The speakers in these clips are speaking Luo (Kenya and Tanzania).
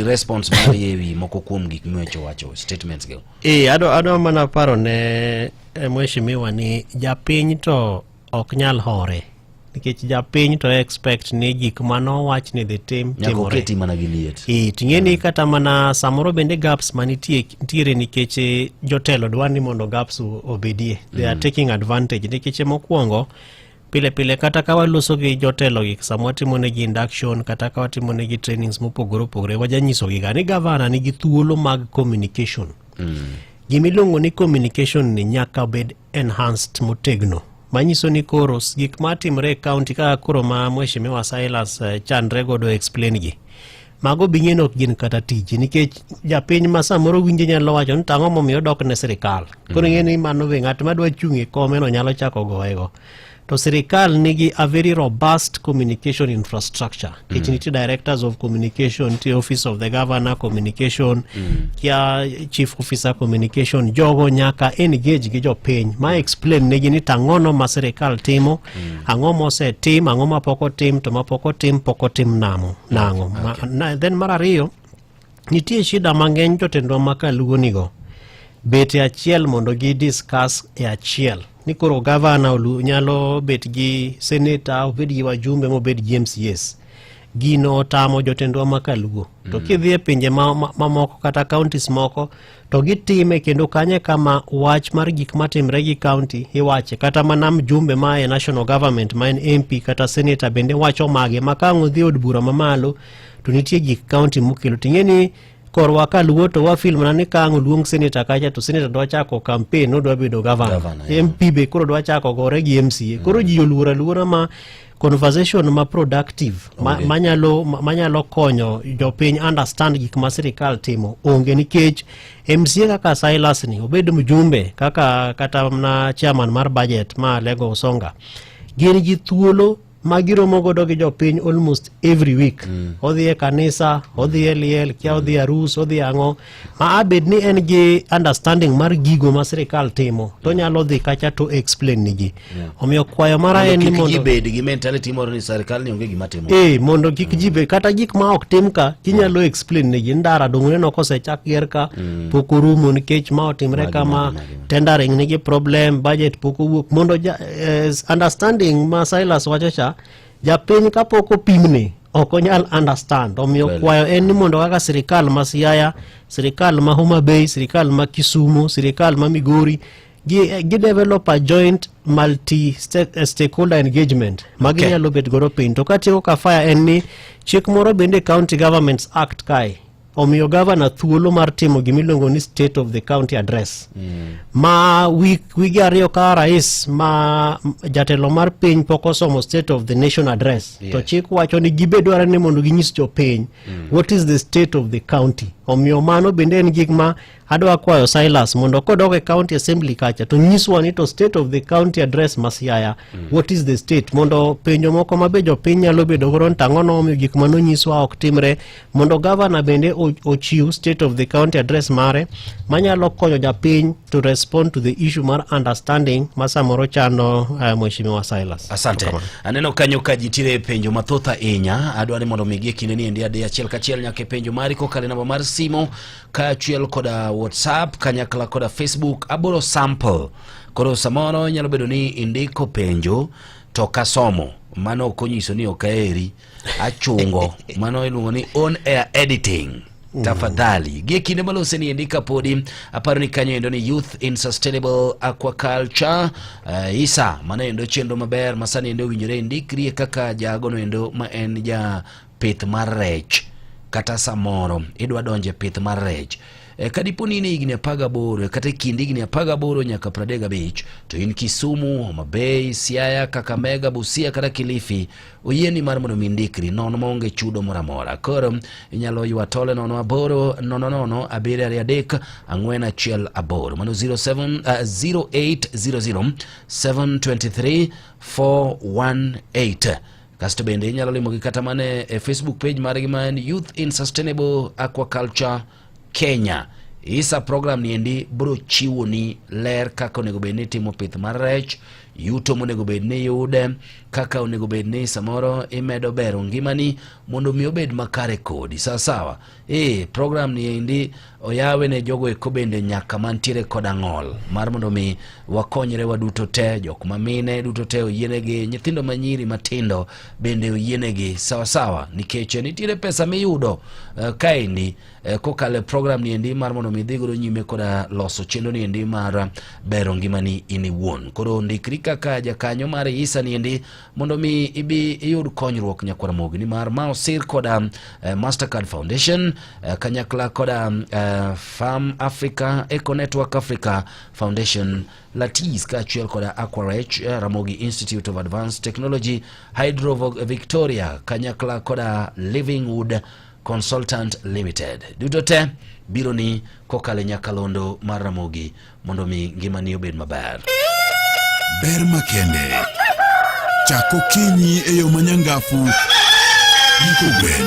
response mar yewi moko kuom gik mwecho wacho statements go e ado ado mana paro ne eh, mheshimiwa ni japiny to ok nyal hore nikech japiny to expect ni gik mano wach ni dhi tim timore mana gi liet e ting'e ni mm. kata mana samoro bende gaps manitie nitiere nikech eh, jotelo dwa ni mondo gaps obedie they are mm. taking advantage nikech mokwongo Pile pile kata ka waloso gi jotelo gi sama watimo ne gi induction kata ka watimo ne gi trainings mopogore opogore wajanyiso gi ga ni gavana nigi thuolo mag communication mm. gimiluongo ni communication ni nyaka bed enhanced motegno manyiso ni koro gik matimre e county kaka koro ma mheshimiwa Silas eh, chandre godo explain gi mago binyen ok gin kata tiji nikech japiny ma samoro winje nyalo wacho ni tang'o momiyo dok ne sirikal koro ing'e ni mano be ng'at madwa chung' e komeno nyalo chako goyego to sirikal nigi a very robust communication infrastructure mm. it nitie directors of communication nitie office of the governor communication mm. kia chief officer communication jogo nyaka engage gi jopiny ma explain negi ni tang'ono ma sirikal timo Mm. Ang'o mosetim, ang'o mapok otim, to mapok otim pok otim namo nang'o. Okay. Ma, na, then mar ariyo nitie shida mang'eny jotendwa ma kaluonigo bet e achiel mondo gi discuss e achiel ni koro gavana nyalo bet gi seneta obed gi wajumbe mobed gi mcs gino otamo jotendwa ma kaluo mm. to kidhi e pinje mamoko ma, ma kata counties moko to gitime kendo kanye kama wach mar gik matimre gi county iwache kata mana mjumbe ma e national government ma en mp kata senator bende wacho mage ma ka ang' odhi od bura mamalo to nitie gik county mokelo ting'e ni korwa ka luo to wafil mana ni ka ang' oluong senator kacha to senator dwa chako campaign odwa bedo governor Governor, yeah. mp be koro dwa chako gore gi mca koro ji oluor aluora ma conversation ma productive ma, okay. manyalo manyalo konyo jopiny understand gik ma sirikal timo onge nikech MCA kaka Silas ni obed mjumbe kaka kata na chairman mar budget ma Lego Usonga gin gi thuolo ma giromo godo gi jopiny almost every week mm. odhi e kanisa odhi e liel kia odhi e arus odhi e ang'o Aa, bed ni en gi understanding mar gigo ma sirikal timo to nyalo dhi kacha to explain ni ji omiyo kwayo mara en ni mondo bed gi mentality moro ni sirikal ni onge gima timo eh mondo kik ji bed kata gik ma ok tim ka inyalo explain ni ji ndara dongone no kosechak ger ka mm. pok orumo nikech ma otimre kama tendering nigi problem budget pok owuok mondo eh, understanding ma Silas wacho cha Japiny kapok opimne ok onyal understand omiyo well, kwayo en ni mondo kaka sirikal ma Siaya, sirikal ma Homa Bay, sirikal ma Kisumu, sirikal ma Migori gidevelop a joint multi eh, stakeholder engagement ma ginyalo okay. bet godo piny to katieko ka fire en ni chik moro bende county governments act kae omiyo gavana thuolo mar timo gima iluongo ni state of the county address mm. ma wige ariyo ka rais ma jatelo mar piny pok osomo state of the nation address yes. to chik wacho ni gibe dware ni mondo ginyis jopiny mm. what is the state of the county omiyo mano bende en gik ma adwa kwayo silas mondo kodok e county assembly kacha to nyiswa ni to state of the county address masiaya mm. what is the state mondo penjo moko mabe jopiny nyalo bedo godo ni tang'o nomiyo gik ma nonyiswa ok timre mondo gavana bende ochiw state of the county address mare manyalo konyo japiny to respond to the issue mar understanding ma samoro chando uh, eh, mheshimiwa silas asante Tukama. aneno kanyo ka jitire penjo mathoth ahinya adwa ni mondo migi e kindeni endi adi achiel kachiel nyaka e penjo mari kokale namba mar simo kaachiel koda whatsapp kanyakla koda facebook aboro sample koro samoro nyalo bedo ni indiko penjo to kasomo mano ok onyiso ni ok aheri achungo mano iluongo ni on air editing mm. tafadhali gie kinde malose ni endika podi aparo ni kanyo endo ni youth in sustainable aquaculture uh, isa mano endo chenro maber masani endo owinjore indikrie kaka jagono endo ma en ja pith mar rech kata samoro idwa donjo e pith mar rech e, kadipo ni in e higni apar gaboro kata e kind higni apar gaboro nyaka pradek gabich to in Kisumu, Homa Bay, Siaya, Kakamega, Busia kata Kilifi oyieni mar mondo mi indikri nono maonge chudo moro amora. Koro inyalo ywa tole nono aboro nono nono abiriyo ariyo adek ang'wen achiel aboro mano 07 uh, 0800 723 418 Kasto bende inyalo limogi kata mana e Facebook page margi ma en Youth in Sustainable Aquaculture Kenya. Isa program ni endi bro chiwo ni ler kaka onego bed ni timo pith mar rech, yuto monego bed ni yude, kaka onego bed ni samoro imedo bero ngimani mondo mi obed makare kodi. Sawa sawa. Ee, program ni endi oyawe ne jogo eko bende nyaka mantiere kod ang'ol mar mondo mi wakonyre waduto te jok ma mine duto te oyienegi nyithindo ma nyiri matindo bende oyienegi sawasawa nikech nitiere pesa miyudo uh, kaendi uh, kokalo e program ni endi mar mondo mi idhi godo nyime koda loso chenro ni endi mar bero ngimani in iwuon koro ndikri kaka jakanyo mar isa ni endi mondo mi ibi iyud konyruok nyakwar mogi nimar ma osir koda uh, Mastercard Foundation uh, kanyakla koda uh, Farm Africa Eco Network Africa Foundation Latis kaachiel koda Aquarech uh, Ramogi Institute of Advanced Technology Hydro Victoria kanyakla koda Livingwood Consultant Limited duto te biro ni kokale nyakalondo mar Ramogi mondo mi ngimani obed maber. Ber makende chako kinyi e yo manyangafu gi kogwen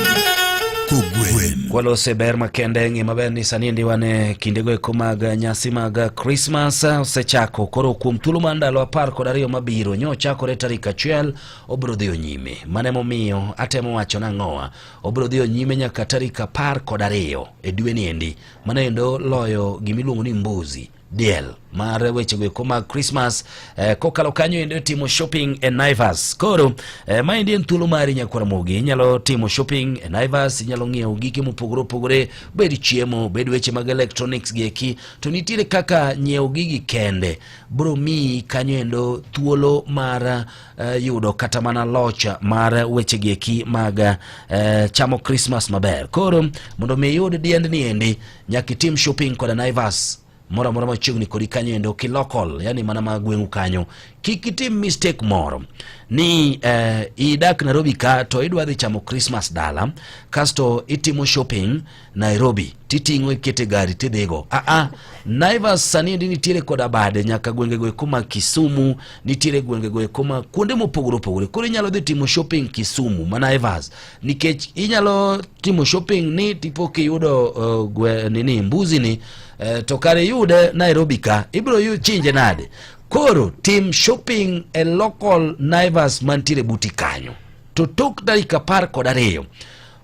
Kwalose ber makende ng'e maber ni sani ndi wan e kindego eko mag nyasi mag Krismas osechako koro kuom thuolo mar ndalo apar kod ariyo mabiro nyo ochakore tarik achiel obiro dhiyo nyime mane momiyo atemo wacho nang'owa obiro dhiyo nyime nyaka tarik apar kod ariyo e dweni endi mano endo loyo gima iluongo ni mbuzi diel mar wechego eko mag Christmas eh, kokalo kanyo endo timo shopping e Naivas. Koro eh, ma endi en thuolo mari nyakwara mogi, inyalo timo shopping e Naivas, inyalo ng'iewo gike mopogore opogore, bed chiemo, bed weche mag electronics gi eki, to nitiere kaka nyiewo gigi kende bro miyi kanyo endo thuolo mar uh, yudo kata mana loch mar wechegi eki mag uh, chamo Christmas maber. Koro mondo mi iyud diendni endi nyaka itim shopping koda Naivas moro amora machiegni kodi kanyo endo kilokol yani mana ma gweng'u kanyo kik itim mistake moro ni eh, idak Nairobi ka to idwa dhi chamo Christmas dala kasto itimo shopping Nairobi titing'o ikete gari tidhigo. Ah, ah. Naivas sani ndi nitiere koda bade nyaka gwengego eko ma Kisumu, nitiere gwengego eko ma kuonde mopogore opogore. Koro inyalo dhi timo shopping Kisumu ma Naivas nikech inyalo timo shopping ni tipo kiyudo uh, gwe, nini mbuzi ni uh, to kare yude Nairobi ka ibiro yu chinje nade. Koro tim shopping e local Naivas mantiere buti kanyo to tok dakika apar kod ariyo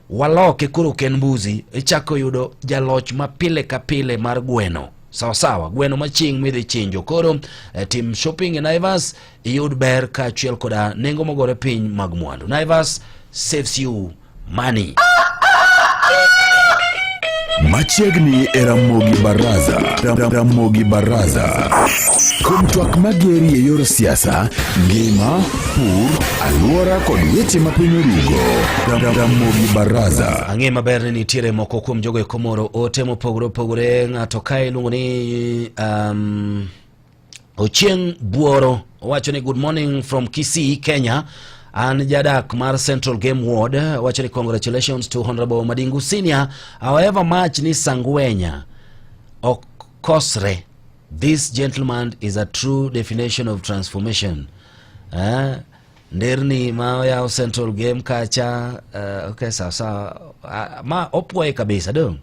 waloke koro ken mbuzi ichako yudo jaloch ma pile ka pile mar gweno sawa sawa gweno maching midhi chinjo koro eh, tim shopping e naivas iyud ber kaachiel koda nengo mogore piny mag mwandu naivas saves you money machiegni e ramogi baraza Ra- ra- ramogi baraza kuom twak mageri e yor siasa ngima pur, alwora kod weche ma piny orugo. Ramogi Baraza. Ang'e maber ni nitiere moko kuom jogo e komoro ote mopogore opogore ng'ato ka iluongo ni um, Ochieng' Buoro owacho ni good morning from Kisii, Kenya. An jadak mar Central Game Ward wacho ni congratulations to Honorable Madingu Senior. However much ni Sangwenya ok kosre This gentleman is a true definition of transformation. Eh? Nderni ma ya Central Game kacha uh, okay sawa sawa uh, ma opwoye kabisa dong.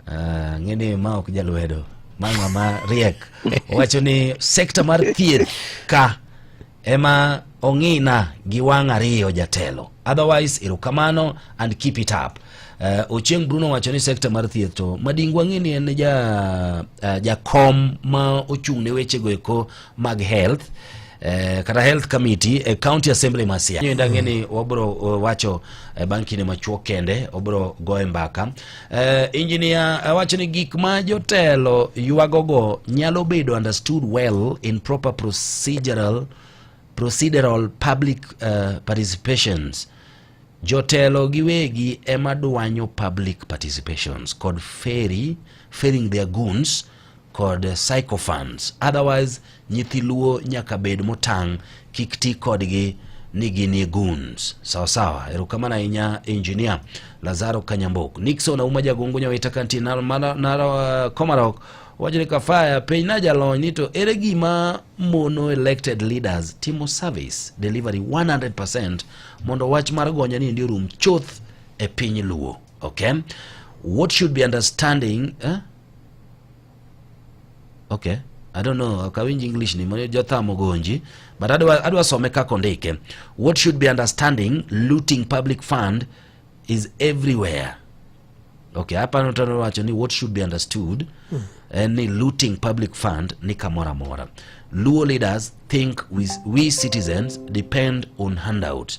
Uh, eh, ngini ma ok jalwedo. Mama ma riek wacho ni sekta mar thieth ka Ema ong'ina gi wang' ariyo jatelo. Otherwise, erokamano and keep it up. Uh, eh, Ochieng Bruno wacho ni sekta mar thieth to madingu ang'e ni en ja uh, jakom ma ochung' ne weche go eko mag health uh, kata health committee e uh, county assembly ma Siaya. Nyo ndang'e ni wabro uh, wacho uh, bang' kinde machuok kende obro goye mbaka. Uh, eh, injinia awacho ni gik ma jotelo ywagogo nyalo bedo understood well in proper procedural, procedural public uh, participations jotelo giwegi ema dwanyo public participations kod ferry, ferrying their goons kod psychophants otherwise nyithi luo nyaka bed motang' kik ti kodgi ni ginie goons sawasawa. Erokamano ahinya engineer Lazaro Kanyambok. Nixon Auma Jagongo Nyawita Kanti Nara Komarok wacho ni Kafaya piny na jalony ni to ere gima mono elected leaders timo service delivery 100% mondo wach mar gonya ni ndi orum chuth e piny luo okay what should be understanding eh? Okay. I don't know, akawinj English ni mano jothamo gonji, but adwa adwa some kaka ondike. What should be understanding looting public fund is everywhere. Okay, hapa nataka wacho ni what should be understood hmm. Eh, ni looting public fund ni kamora mora. Luo leaders think we, we citizens depend on handouts.